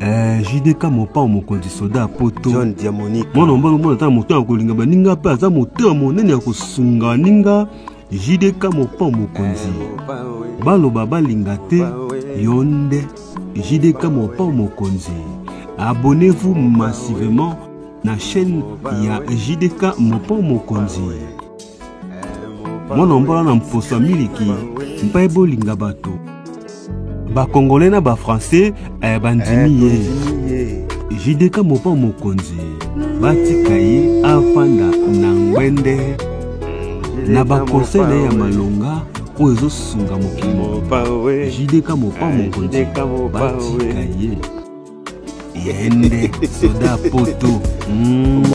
Eh, JDK mopao mokonzi soda ya poto John Diamonique mwana mobali omona ata na moto ya kolinga baninga mpe aza moto ya monene ya kosunga baninga JDK mopao mokonzi baloba balinga te yo nde JDK mopao mokonzi abonnez-vous massivement na chaîne ya JDK mopao mokonzi mwana mbola na mposo ya miliki mpe bolinga bato bakongole na bafrançais eh, bandimi ye eh, jideka mopa mokonzi batika ye afanda na ngwende na bakonsei na ye ya malonga oyo ezosunga mokili mobimba jideka mopa eh, mokonzi batika ye yende soda poto mm.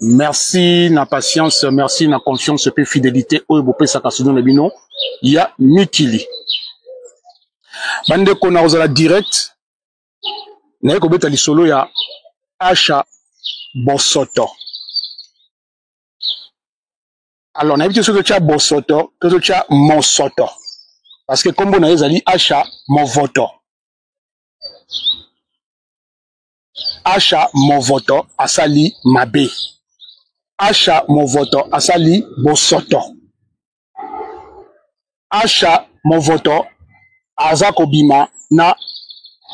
merci na patience merci na confiance mpe fidélité oyo bopesaka sino na bino ya mikili bandeko na kozala direct naye kobeta lisolo ya asha bosoto alors nayebi te soki totya bosoto to totya mosoto parce que nkombo na ye ezali asha movoto asha movoto asali mabe asha movoto asali bosoto asha movoto aza kobima na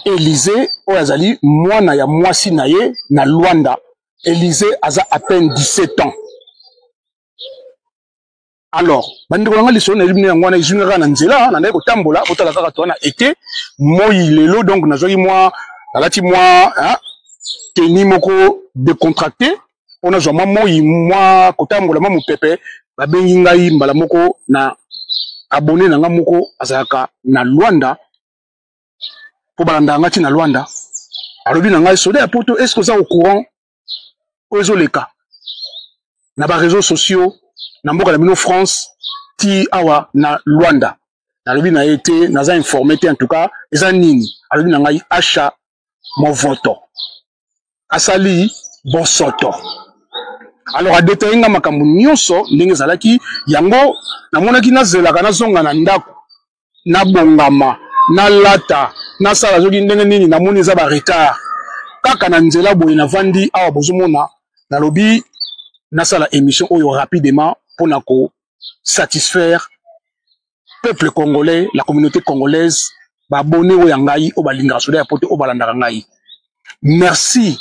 elize oyo azali mwana ya mwasi na ye na lwanda elize aza à peine 17 ans alors bandeko na ngai lisolo nayebi bino yango wana ezwi nga kaka na nzela nandaki kotambola kotala kaka toa na ete moi lelo donc nazwaki mwa nalati mwa teni moko decontracte mpo nazwa mwa moi mwa kotambola mwa mopepe babengi ngai mbala moko na abone na ngai moko azalaka na lwanda mpo balandaka ngai ti na lwanda alobi na ngai soda ya poto est ce que oza au courant oyo ezoleka na ba réseaux sociaux na mboka na bino france ti awa na luanda nalobi na ye te naza informe te en tout cas eza nini alobi na ngai asha movoto asali bosoto alors adetaye nga makambo nyonso ndenge ezalaki yango namonaki nazelaka nazonga na ndako nabongama nalata nasala soki ndenge nini namoni eza ba retard kaka na nzela boye navandi awa bozomona nalobi nasala émission oyo rapidement mpo na ko satisfaire peuple congolais la communauté congolaise baabone oyo ya ngai oyo balingaka soda ya poto oyo balandaka ngai merci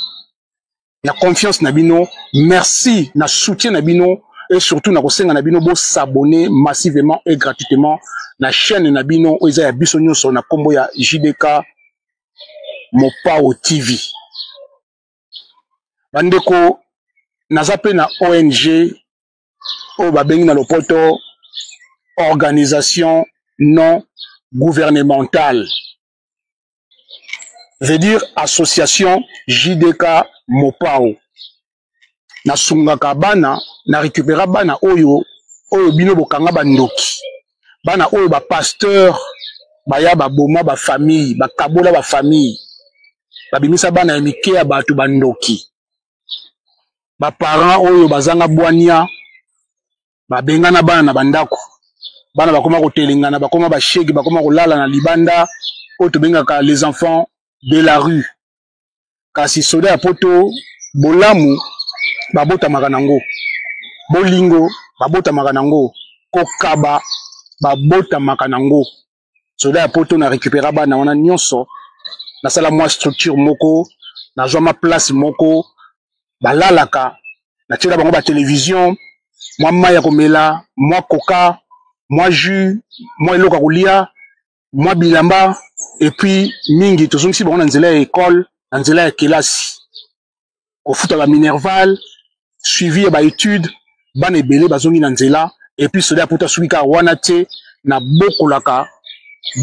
na confiance na bino merci na soutien na bino et surtout na kosenga na bino bo s'abonner massivement et gratuitement na chaîne na bino oyo eza ya biso nyonso na kombo ya JDK Mopao TV bandeko naza mpe na ONG oyo babengi na lopoto organisation non gouvernementale veut dire association JDK Mopao. nasungaka bana na récupéra bana oyo oyo bino bokanga bandoki bana oyo bapasteur baya baboma bafamille bakabola bafamille babimisa bana ya mike ya bato bandoki baparent oyo bazanga bwania babengana bana na bandako bana bakoma kotelengana bakoma bashege bakoma kolala na libanda oyo tobengaka les enfants de la rue kasi soda ya poto bolamu babotamaka nango bolingo babotamaka nango kokaba babotamaka nango soda ya poto na récupéra bana wana nyonso nasala mwa structure moko nazwa ma place moko balalaka natyela bango batelevision mwa mai ya komela mwa koka mwa jus mwa eloko ya kolia mwa bilamba epuis mingi tozongisi bango na nzela ya ekole na nzela ya kelasi kofuta ba minerval suivi ya ba étude bana ebele bazongi na nzela epuis soda ya poto asuki kaka wana te na bokolaka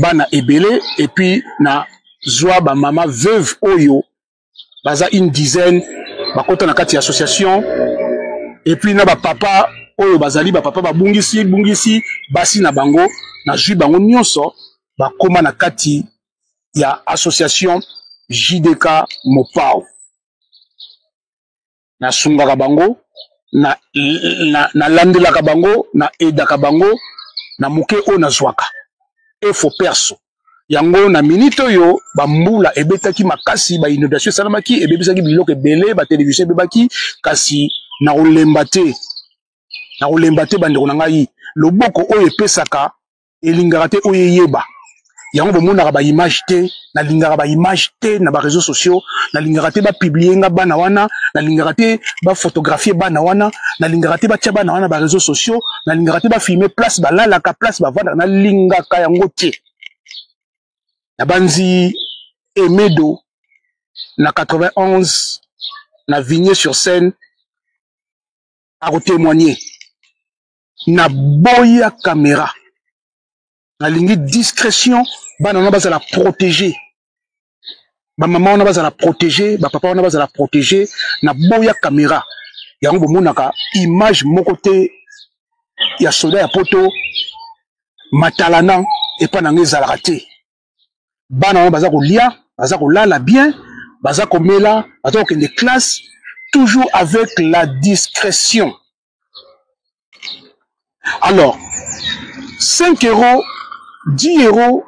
bana ebele epuis na zwa bamama veuve oyo baza une dizaine bakota na kati ya association epuis na bapapa oyo bazali bapapa babungisi bungisi basi na bango nazwi bango nyonso bakóma na kati ya association JDK Mopao. Nasungaka bango, na, na, na landelaka bango, na edaka bango na moke oyo nazwaka. Efo perso. yango na minite oyo bambula ebetaki makasi bainondation esalamaki ebebisaki biloko ebele batelevisio ebebaki kasi na kolemba te na kolemba te bandeko na ngai loboko oyo epesaka elingaka te oyo eyeba yango bomonaka baimage te nalingaka baimage te na bareseau sociaux nalingaka te bapiblie nga bana wana nalingaka te bafotographie bana wana nalingaka te batya bana wana bareseau sociaux nalingaka te bafilme place balalaka place bavandaka nalingaka yango te nabanzi emedo na 91 na vigne sur scène akotemoigne na boya camera nalingi discrétion bana wana bazala protégé bamama wana bazala protégé bapapa wana bazala protégé na boya camera yango bomonaka image moko te ya soda ya poto matalana epa na ngai ezalaka te bana wana baza kolia baza kolala bien baza komela baza kokende classe toujours avec la discrétion alors 5 euros 10 euros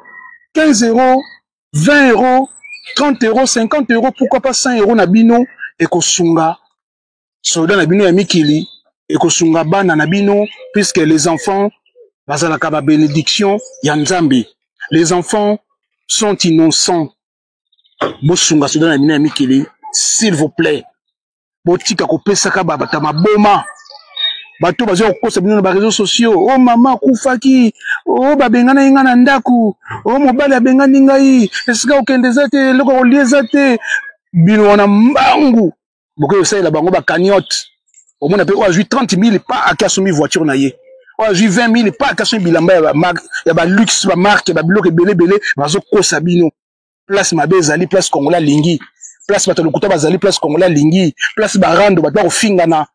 15 euros 20 euros 30 euros 50 euros pourquoi pas 100 euros na bino ekosunga soldat na bino ya mikili ekosunga bana na bino puisque les enfants bazalaka ba bénédiction ya nzambe les enfants sont innocents bosunga soldat na bino ya mikili s'il vous plaît botika kopesaka babata maboma bato baza kokosa bino na bareseau sociaux o oh, mama akufaki o oh, babenganaki ngai na ndako o oh, mobali abengani ngai esika okende eza te eloko ya kolia eza te bino wana mbangu bokoki kosalela bango bakaniote omona mpe oyo azwi 30 mille pa ake asombi voiture na ye oyo azwi 20 mille pa ake asombi bilamba ya baluxe bamarke babiloko ebele ebele bazokosa bino place mabe ezali place congolais alingi place bato ya lokuta bazali place congolais alingi place barando bato bakofingana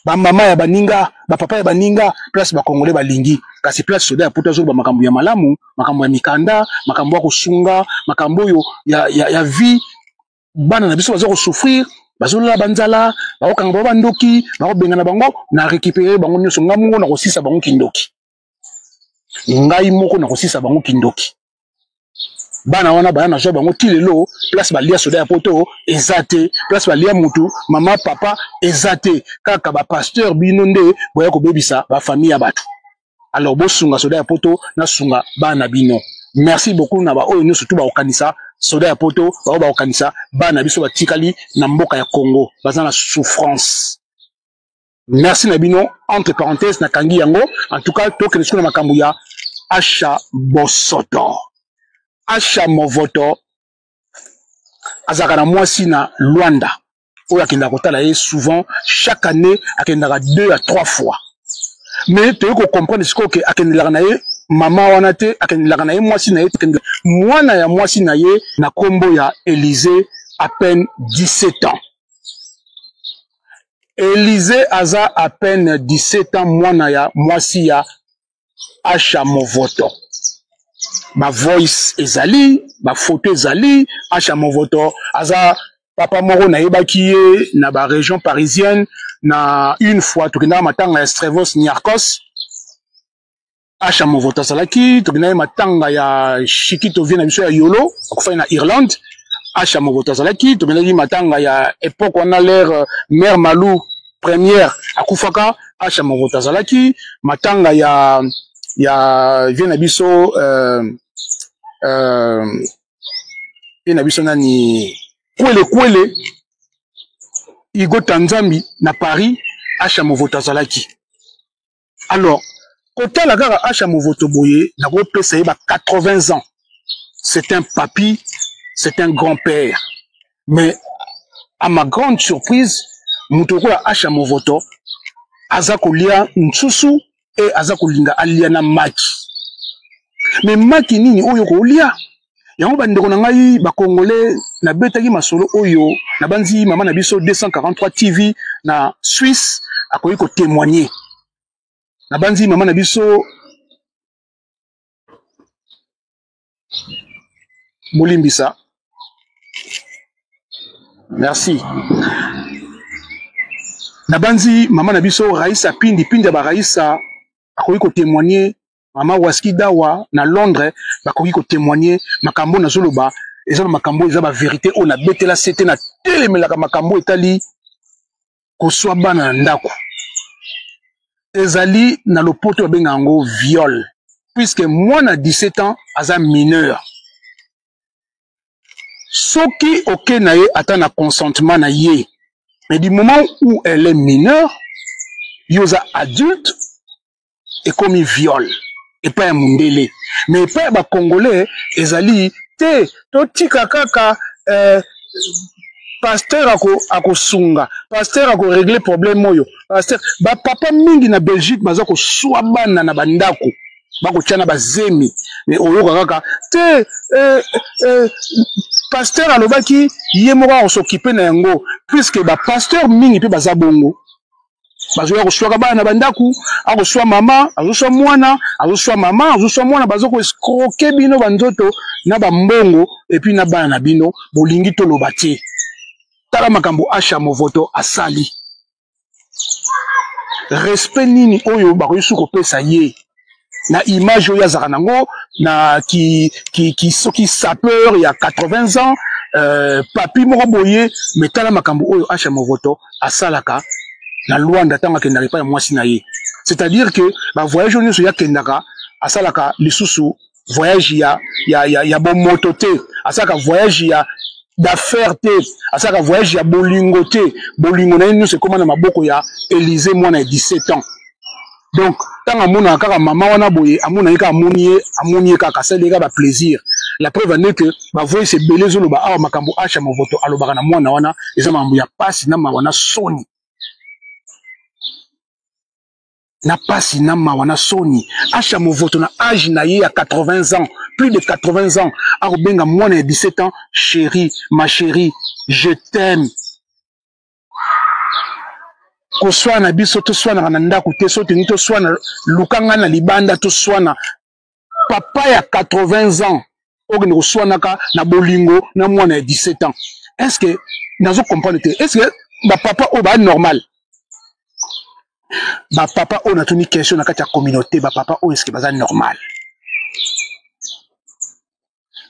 bamama ya baninga bapapa ya baninga place bakongole balingi kasi place soda ya poto azoloba makambo ya malamu makambo ya mikanda makambo ya kosunga makambo oyo ya, ya, ya vie bana na biso baza kosouffrir bazolola banzala bakokanga bango bandoki bakobengana bango na récupéré bango nyonso ngai mongo na kosisa bango kindoki ngai moko nakosisa bango kindoki bana wana baya nazwa bango ti lelo place balia soda ya poto eza te place balia mutu mama papa eza te kaka bapasteur bino nde boya kobebisa bafamille ya bato alors bosunga soda ya poto nasunga bana bino merci beaucoup na baoyo nyonso tu bakokanisa soda ya poto baoyo bakokanisa bana biso batikali na mboka ya congo baza na souffrance merci na bino entre parenthèse nakangi yango en tout cas tokende sikoyo na makambo ya asha bosoto asha movoto azalaka na mwasi na luanda oyo akendaka kotala ye souvent chaque année akendaka deux à trois fois mais toyei kocomprendre sikoyo ke akendelaka na ye mama wana te akendelaka na ye mwasi na ye te mwana ya mwasi na ye na nkombo ya elise à peine 17 ans Elise aza à peine 17 ans mwana ya mwasi ya Asha Movoto. Ba voice ezali, ba photo ezali, Asha Movoto aza papa moko nayebaki ye na ba région parisienne na une fois tokendaka matanga ya Strevos Niarcos Asha Movota azalaki tobina ye matanga ya Shikito vie na biso ya Yolo akufaki na Irlande Asha Movota azalaki tobinaki matanga ya epoque wana l'ère euh, mère Malou première akufaka Asha Movota azalaki matanga ya ya vie na biso euh, euh, vie na biso nani kwele kwele Igo Tanzambi na Paris Asha Movota azalaki alors kotala kaka asha movoto boye nakopesa ye ba 80 ans c'est un papy c'est un grand père mais à ma grande surprise moto lokola asha movoto aza kolia nsusu e aza kolinga alia na maki me maki nini oyo kolia yango bandeko na ngai bakongole nabetaki masolo oyo nabanzi mama na biso 243 tv na swisse akoki kotemoigne nabanzi mama na biso bolimbisa merci nabanzi mama na biso raisa pindi pindi ya baraisa akoki kotemoigne mama waski dawa na londres bakoki kotemoigne makambo nazoloba eza bamakambo eza baverité oyo nabetela se te natelemelaka makambo etali koswa bana na ndako ezali na lopoto babenga yango viol puiske mwana 17 ans aza mineur soki oke na ye ata na consentement na ye mais du moment où elle est mineure yo oza adulte ekomi viol epai ya mundele me epai ya bacongolais ezali te totika kaka eh, pasteur akosunga ako pasteur akoregle problème oyo pasteur bapapa mingi na belgique baza koswa bana na bandako bakotya na bazemi me oyoka kaka te eh, eh, pasteur alobaki ye moko akosokipe na yango puiske bapasteur mingi mpe baza bongo bazoya koswaka bana na bandako akoswa mama azoswa mwana azoswa mama azoswa mwana bazo koescroke bino banzoto na bambongo epuis na bana na bino bolingi toloba te tala makambo asha movoto asali respect nini oyo bakoki su kopesa ye na image oyo azalaka nango na ki, ki, ki soki sapeur ya 80 ans euh, papi moko boye me tala makambo oyo asha movoto asalaka na luanda ntango akendaka epai ya mwasi na ye c'est-à-dire que bavoyage oyo nyonso ye akendaka asalaka lisusu voyage ya, ya, ya, ya bomoto te asalaka voyage ya d'affaires te asalaka voyage ya bolingo te bolingo na ye nyonso ekóma na maboko ya élise mwana ya 17 ans donc ntango amonaka kaka mama wana boye amonaki kaka amoni ye amoni ye kaka asali ye kaka baplaisir la preuve ande ke bavoice ebele ezoloba awa makambo asha movoto alobaka na mwana wana eza makambo ya mpasi na mawa na soni na mpasi na mawa na soni asha movoto na age na ye ya 80 ans plus de 80 ans akobenga mwana ya 17 ans chéri ma chéri je t'aime koswana biso toswanaka na ndako te so tolingi toswana luka ngai na libanda toswana papa ya 80 ans okende koswanaka na bolingo na mwana ya 17 ans est ce que nazo comprendre te est ce que bapapa oyo baa normal bapapa oyo natuni question na kati ya communauté bapapa oyo eske baza normal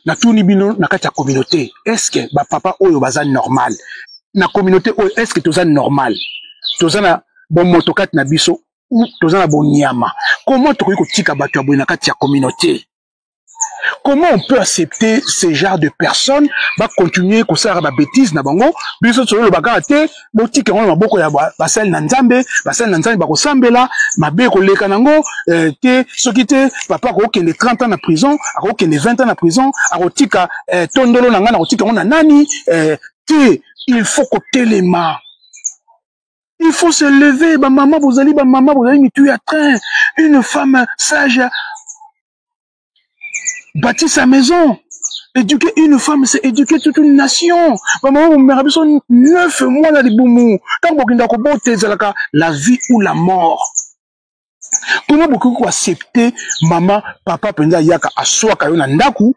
natuni bino na kati ya communauté estce bapapa oyo baza normal na communauté oyo estce toza normal toza na bomoto kati na biso ou toza na bonyama comment tokoki kotika bato ya boye na kati ya communauté comment on peut accepter ce genre de personnes bacontinue kosalaka babétise na bango biso tozoloba kaka te botika yango na maboko ya basali na nzambe basali na nzambe bakosambela mabe ekoleka na yango eh, te soki te papa akokende 30 ans na prison akokende 20 ans na prison akotika eh, tondolo na ngai nakotika yango na nani eh, te il faut kotelema Il faut se lever, ma maman, vous allez, ma maman, vous allez, mais tu es train. Une femme sage bâtir sa maison éduquer une femme c'est éduquer toute une nation bamama bomemaka biso neuf mois na libumu ntango bokenda kobota ezalaka la vie ou la mort kuna bokoki koaccepte mama papa mpenza ayaka aswaka yo na ndako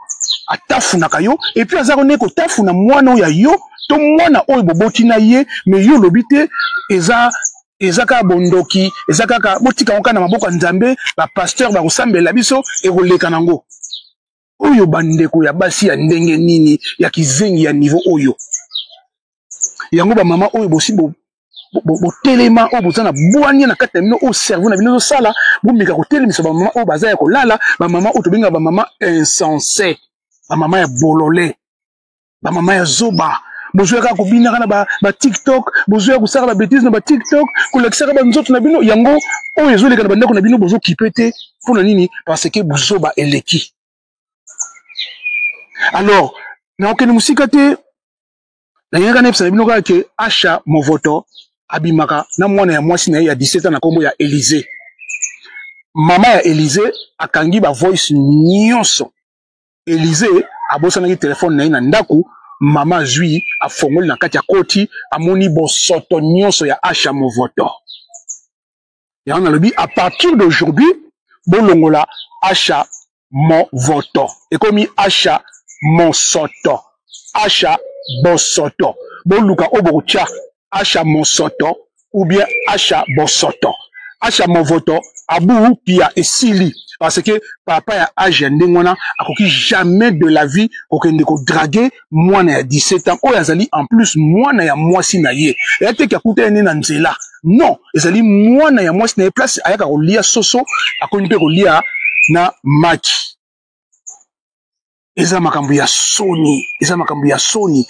atafunaka yo epuis azaka nde kotafuna mwana oyo ya yo to mwana oyo boboti na ye me yo olobi te eza eza kaka bondoki eza kaka botika yango kaka na maboko ya nzambe bapasteur bakosambela biso ekoleka nango oyo bandeko ya basi ya ndenge nini ya kizengi ya nivo oyo yango bamama oyo bosi botelema oyo boza na bwania na kati na bino oyo cerveau na bino ezosala bomeka kotelemisa bamama oyo baza ya kolala bamama oyo tobengaka bamama insense bamama ya bolole ba mama ya zoba bozoyaka kobinaka na ba, ba tiktok bozoya kosaka ba betise na ba tiktok kolakisaka banzoto na bino yango oyo ezoleka na bandako na bino bozokipe te mpo na nini parce que buzoba eleki alors nakokende mosika te nayaka nayebisa na bino kaka ke asha movoto abimaka na mwana ya mwasi na ye ya 17 ans na nkombo ya Elise mama ya Elise akangi ba voice nyonso Elise abosanaki telefone na ye na ndako mama azwi afongoli na kati akoti amoni bosoto nyonso ya asha movoto yango nalobi a partir d'aujourd'hui bolongola asha movoto ekomi asha mosoto asha bosoto boluka oyo bokotya asha mosoto ou bien asha bosoto asha movoto abu pia esili parce que papa ya age ya ndenge wana akoki jamais de la vie kokende kodrage mwana ya 17 ans oyo azali en plus mwana ya mwasi na ye eya teke akuta ye nde na nzela non ezali mwana ya mwasi na ye place ayaka kolia soso akomi mpe kolia na maki eza makambo ya soni eza makambo ya soni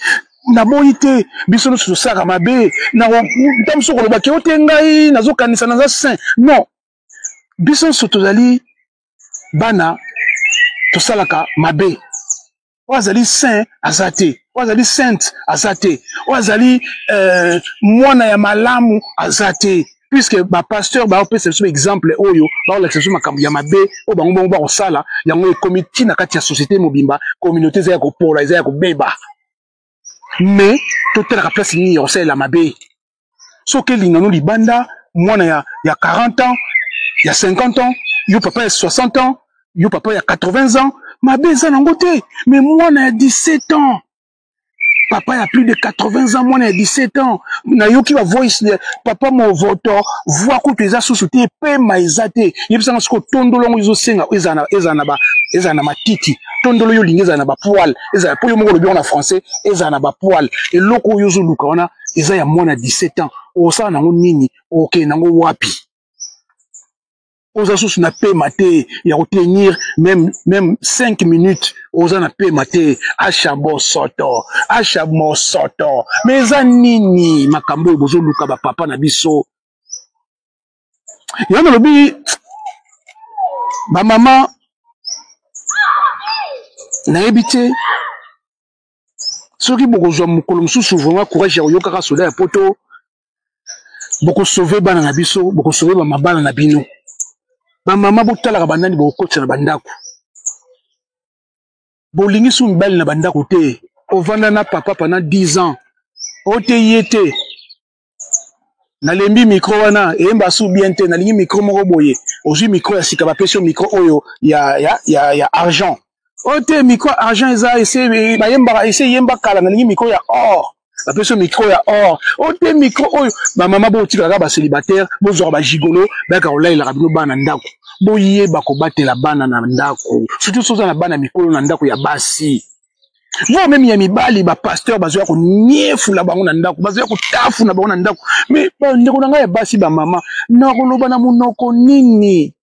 naboyi te biso nyonso tosalaka mabe nta mosu koloba ke ote ngai nazokanisa naza saint non biso nyonso tozali bana tosalaka mabe oyo azali saint aza te oyo azali sainte aza te oyo azali euh, mwana ya malamu aza te puisque bapasteur baopesa biso exemple oyo baolakisa biso makambo ya mabe oyo bango bango bakosala yango ekomi nti na kati ya société mobimba communauté eza ya kopola eza ya kobeba mais totalaka place nini ya kosalela mabe soki elingano libanda mwana ya, ya 40 ans ya 50 ans yo papa ya 60 ans yo papa ya 80 ans mabe eza nango te mais mwana ya 17 ans papa ya plus de 80 ans mwana ya 17 ans nayoki ba voice de papa movoto voix kutu eza susu te epema eza te yebisanga siko tondolo yango ezosenga ezala na ba ezala na matiti tondolo yo olingi ezala na bapoile ezala mpo yo moko olobi yango na français ezala na bapoile eloko oyo ozoluka wana eza ya mwana 17 ans okosala nango nini okokende nango wapi oza susu na pema te ya kotenir meme meme 5 minutes oza na pema te asha bosoto asha mosoto me eza nini makambo oyo bozoluka bapapa na biso yango nalobi bamama nayebi te soki bokozwa mokolo mosusu vraiment courage ya koyokaka soda ya poto bokosove bana na biso bokosove bamabala na bino bamama botalaka banani bokokotisa na bandako bolingi su mibali na bandako te ovanda na papa pendant 10 ans oteyi ye te nalembi micro wana eyemba su bien te nalingi micro moko boye ozwi micro ya sika bapesi yo micro oyo ya, ya, ya, ya argent oyo oh, te micro argent eza ese bayembaka ese eyemba kala nalingi micro ya or bapesi yo micro ya or oyo oh, te micro oyo bamama botikalaka bacelibataire bozwaka bagigolo bayaka kolalelaka bino bana ndako boyeba kobatela bana na ndako surtout soza na bana mikolo na ndako ya basi moi meme ya mibali bapasteur bazoya koniefula bango na ndako bazoya kotafuna bango na ndako me bandeko na ngai ya basi bamama nakoloba na monoko nini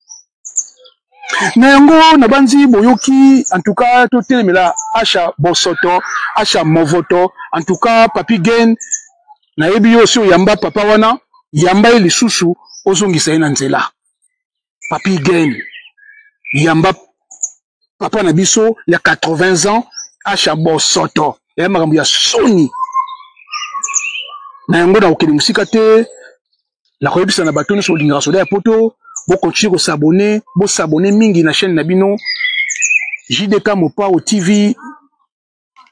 na yango nabanzi boyoki antuka totelemela asha bosoto asha movoto antuka papi gen nayebi yo osi oyamba papa wana yamba ye lisusu ozongisa ye na nzela papi gen yamba papa na biso ya 80 ans asha bosoto eya makambo ya soni na yango nakokende mosika te nakoyebisa na bato nyonso olingaka soda ya poto bokontinue kosabone bosabone mingi na chaîne na bino jdk mopao tv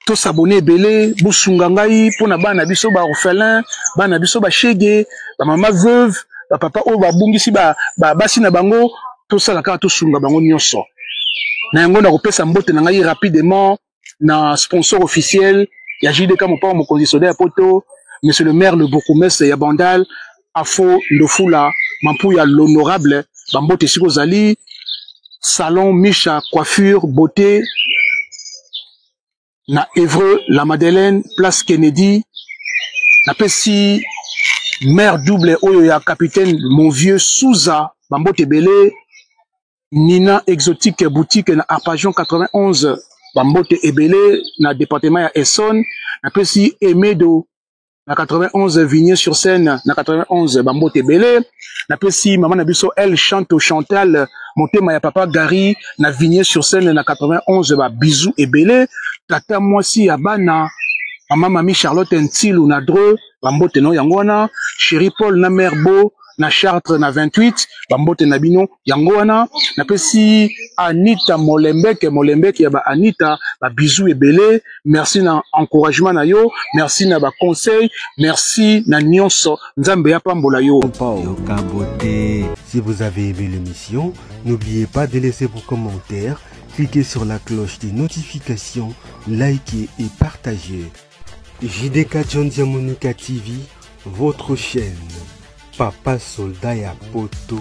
to s'abonner ebele bosunga ngai mpo na bana biso ba orphelin bana biso ba shege ba mama veuve ba papa oyo babungisi ba, ba basi na bango tosala kaka tosunga bango nyonso na yango nakopesa mbote na ngai rapidement na sponsor officiel ya JDK mopao mokonzi soda ya poto monsieur le maire le bourgmestre ya Bandal Afo Ndofula Mampuya l'honorable bambote esika ozali salon Misha coiffure beauté na Evreux la Madeleine place Kennedy napesi mère double oyo ya capitaine mon vieux Souza bambote ebele Nina exotique boutique na Arpajon 91 bambote ebele na département ya Essonne napesi Emedo na 91 vigne sur scène na 91 bambote ebele napesi mama na biso el chanto chantal motema ya papa gary na vigne sur scène na 91 ba bisou ebele tata mwasi ya bana mama mami charlotte ntilu na dre bambote na yango wana chéri paul na mare bo na chartre na 28 bambote na bino yango wana napesi anita molembeke molembeke ya ba anita ba bizu ebele merci na encouragement na yo merci na ba conseil merci na nyonso nzambe apambola yo si vous avez aimé l'émission n'oubliez pas de laisser vos commentaires cliquez sur la cloche des notifications likez et partagez JDK John Diamonica TV, votre chaîne. Papa soldat ya poto.